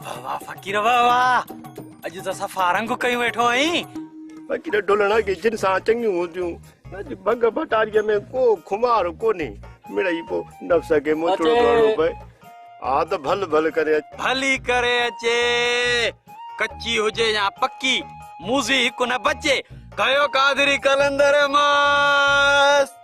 واهه واهه فقير واهه واهه اڄ ته صفا رنگ ڪيون ويٺو آهين فقير ڍولڻ اڳي جن سان چڱيون هونديون اڄ ڀنگ ڀٽاريء ۾ ڪو خمار ڪونهي مڙئي پو نفس کي موچڙو ڪرڻو پئي ها ته ڀل ڀل ڪري اچ ڀلي ڪري اچي ڪچي هجي يا پڪي موزي هڪ نه بچي ڪيو قادري قلندر ماس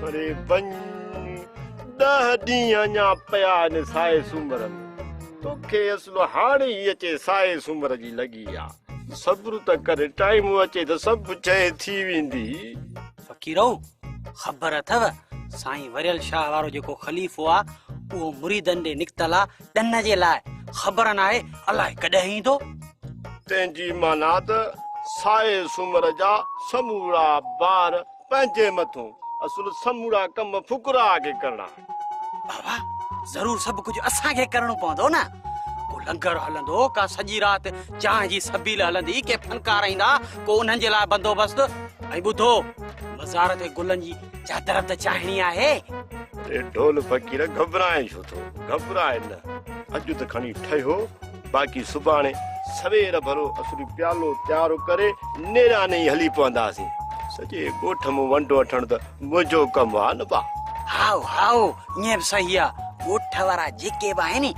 پري وڃ ڏهه ڏينهن اڃا پيا آهن سائي سومر ۾ توکي اصل هاڻي ئي اچي سائي سومر جي لڳي آ صبر ته ڪر ٽائيم اچي ته سڀ شيء ٿي ويندي. فقيرو! خبر اٿئو سائين وريل شاهه وارو جيڪو خليفو آ اهو مريدن ڏي نڪتل آ ڏن جي لاء خبر ناهي الائي ڪڏهن ايندو. تنهنجي معنيٰ ته سائي سومر جا سمورا بار پنهنجي مٿون اصل سمورا ڪم فقراء کي ڪرڻا آهن. بابا ضرور سڀ ڪجهه اسان کي ڪرڻو پوندو نه. ڪو لنگر هلندو، ڪا سڄي رات چانهه جي سبيل هلندي، ڪي فنڪار ايندا، ڪو انهن جي لاء بندوبست. ۽ ٻڌو، مزار تي گلن جي چادر به ته چاڙهڻي آهي. اڙي ڍول فقير گهٻرائين ڇو ٿو؟ گهٻرائي نه، اڄ ته کڻي ٺهيو. باقي سڀاڻي سوير ڀرو اسين پيالو تيار ڪري نيران ئي هلي پونداسين. سڄي ڳوٺ مون ونڊ وٺڻ ته منهنجو ڪم آ نه با. هائو هائو ائين به صحيح آ. ڳوٺ وارا جيڪي به آهن ني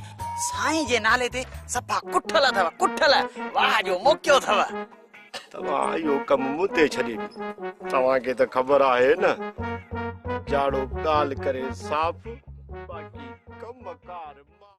سائين جي نالي تي صفا ڪٺل اٿو ڪٺل. واهه جو موقعو اٿو. توهان اهو ڪم مون تي ڇڏي ڏيو. توهان کي ته خبر آهي نه جاڙو ڳالهه ڪري صاف باقي ڪم ڪار مان.